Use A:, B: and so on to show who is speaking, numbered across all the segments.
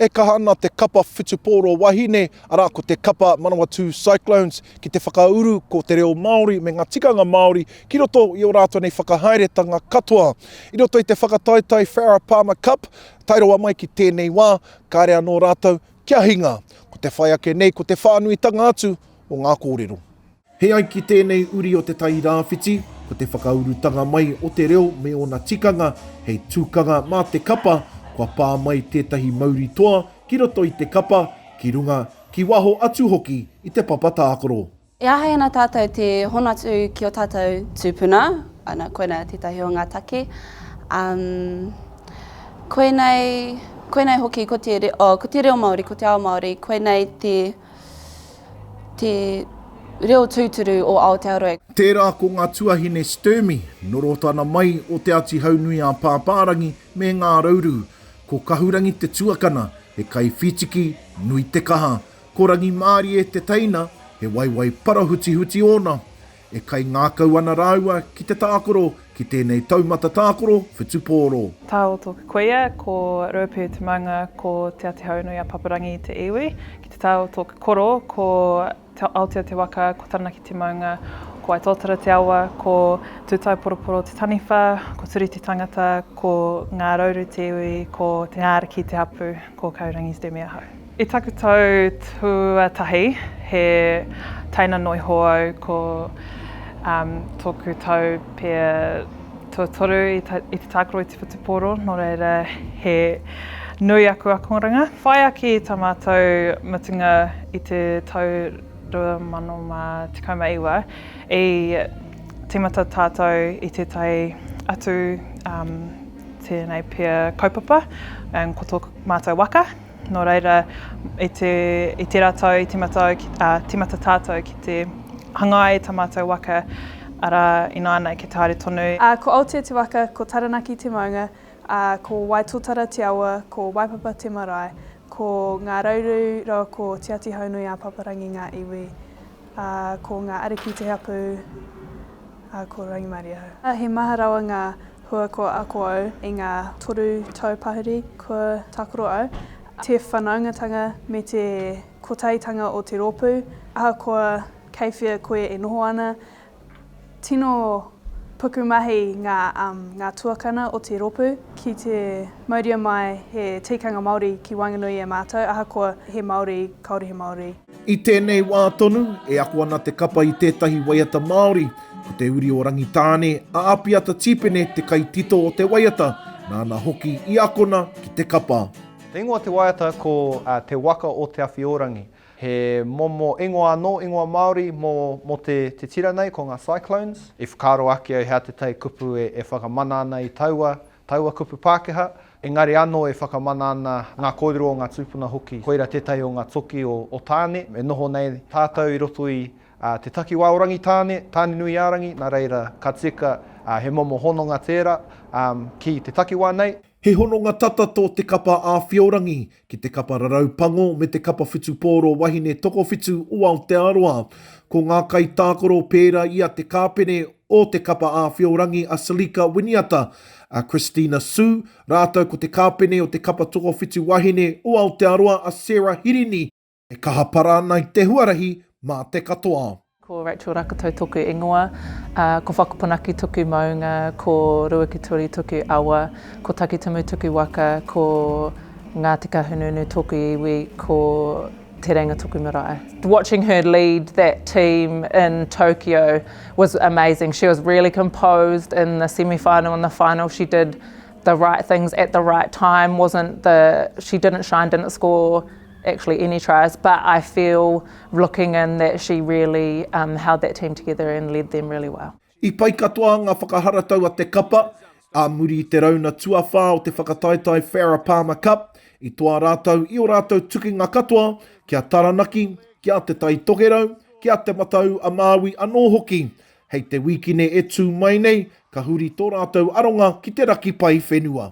A: E kaha ana te kapa whutupōro wahine, arā, ko te kapa Manawatū Cyclones, ki te whakauru ko te reo Māori me ngā tikanga Māori ki roto i ō rātou nei whakahaeretanga katoa. I roto i te whakataetae Farah Palmer Cup, Tae rawa mai ki tēnei wā, kāre anō rātou kia hinga. Ko te whai ake nei ko te whānuitanga atu o ngā kōrero. He ai ki tēnei uri o Te Tai Rāwhiti, ko te whakaurutanga mai o te reo me ōna tikanga hei tukanga mā te kapa, kua pā mai tētahi mauri toa ki roto i te kapa, ki runga, ki waho atu hoki i te papa tākaro. E āhei ana
B: tātou te hono atu ki ō tātou tūpuna, ana, koinā tētahi o ngā take. Um, koinei, koinei hoki ko te, re, oh, ko te reo Māori, ko te ao Māori, koinei te, te reo tūturu o Aotearoa. Tērā ko ngā
A: tuahine Sturmy, Norotana mai o Te Āti Haunui-ā-Pāpārangi me Ngā Rauru. Ko Kahurangi te tuakana, he kaiwhītiki, nui te kaha, Ko Rangimārie te teina, he waewae parahutihuti ōna. E kaingākau ana rāua ki te tākoro ki tēnei taumata tākoro whutupōro. Tao tōku kuia,
C: ko Ruapū te maunga, ko Te Atihaunuiapaparangi te iwi. Ki te tao tōku koro, ko Aotea te waka, ko Taranaki te maunga, ko Waitōtara te awa, ko Tūtaeporoporo te taniwha, ko Turi te tangata, ko Ngārauru te iwi, ko Te Ngāriki te hapū, ko Kaurangi te mea hou. I taku tau tuatahi he taina noa iho au ko tōku tau pia tuatoru i te tākaro i te whutupōro, nō reira he nui aku akoranga. Whai ake i tā mātou mutunga i te tau 2019, i tīmata tātou i tētahi atu tēnei pia kaupapa ko tō mātou waka. Nō reira, i te, i te ratau, i te matau, ki, uh, timata tātou ki te hangai tā mātou waka, arā, ināianei ki te haere tonu. Uh, ko Aotea te waka,
D: ko Taranaki te maunga, uh, ko Waitotara te awa, ko Waipapa te marae, ko Ngā Rauru rawa ko Te Ati Haunui-a-Paparangi ngā iwi, uh, ko Ngā Ariki te hapū, uh, ko Rangimarie au. He maha rawa ngā Hua kua ako au i ngā toru tau pahuri kua takoro au, te whanaungatanga me te kotahitanga o te rōpū, ahakoa kei whea koe e noho ana, tino pukumahi ngā ngā tuakana o te rōpū ki te mauria mai he tikanga Māori ki waenganui i a mātou, ahakoa he Māori, kāore he Māori. I tēnei wā
A: tonu, e ako ana te kapa i tētahi waiata Māori, ko Te Uri o Rangitāne, a Apiata Tīpene te kaitito o te waiata, nāna hoki i akona ki te kapa. Te ingoa o te waiata
E: ko Te Waka o Te Awhiōrangi. He momo ingoa anō, ingoa Māori mō te tira nei, ko ngā Cyclones. I whakaaro ake au he atetai kupu e whakamana ana i taua Taua kupu Pākehā, engari anō e whakamana ana ngā kōrero o ngā tūpuna hoki, koira tētahi o ngā toki o Tāne, e noho nei tātou i roto i te takiwā o Rangitāne, Tānenuiārangi, nā reira, ka tika he momo hononga tērā ki te takiwā nei. He hononga tata
A: tō te kapa āwhiorangi ki te kapa rarau pango me te kapa whutupōro wahine tokowhitu o Aotearoa. Ko ngā kaitākaro pērā i a Te Kāpene o Te Kapa Āwhiorangi a Salika Winiata, a Christina Su, rātou ko Te Kāpene o Te Kapa Tokowhitu Wahine o Aotearoa a Sarah Hirini, e kaha para ana i te huarahi mā te katoa. Ko Rachel Rakatau
C: toku ingoa, ko Whakaponaki toku maunga, ko Ruakituri toku awa, ko Takitimu toku waka, ko Ngāti Kahungunu toku iwi, ko Te Reinga toku marae. Watching her lead that team in Tokyo was amazing, she was really composed in the semi final and the final, she did the right things at the right time, wasn't the, she didn't shine, didn't score, actually any tries but I feel looking in that she really um, held that team together and led them really well. I pai katoa
A: ngā whakaharatau a te kapa, ā muri i te rauna tuawhā o te whakataetae Farah Palmer Cup, i toa rātou i o rātou tukinga katoa ki a Taranaki, ki a Te Tai Tokerau, ki a Te Matau a Māui anō hoki. Hei te wīkine e tū mai nei, ka huri tō rātou aronga ki te raki pai whenua.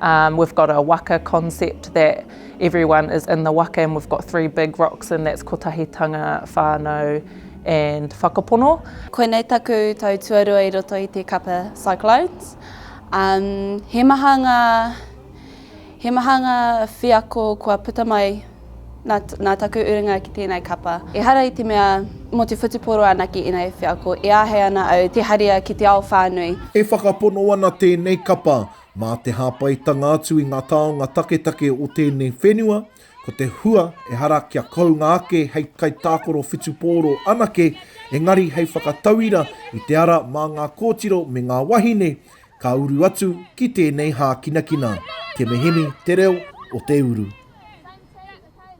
C: Um, we've got a waka concept that everyone is in the waka and we've got three big rocks and that's Kotahitanga, Whānau and Whakapono. Koinei taku
B: tau tuarua i roto i te kapa Cyclones. Um, he maha ngā he maha ngā wheako kua puta mai nā, nā taku urunga ki tēnei kapa. Ehara i te mea mō te whutupōro anake ēnei wheako e āhei ana au te haria ki te ao whānui. E whakapono
A: ana tēnei kapa Mā te hāpaitanga atu i ngā taonga taketake o tēnei whenua, ko te hua ehara kia kounga ake hei kaitākaro whutupōro anake, engari hei whakatauira i te ara mā ngā kōtiro me ngā wahine ka uru atu ki tēnei hākinakina. Te mehemi te reo o te uru.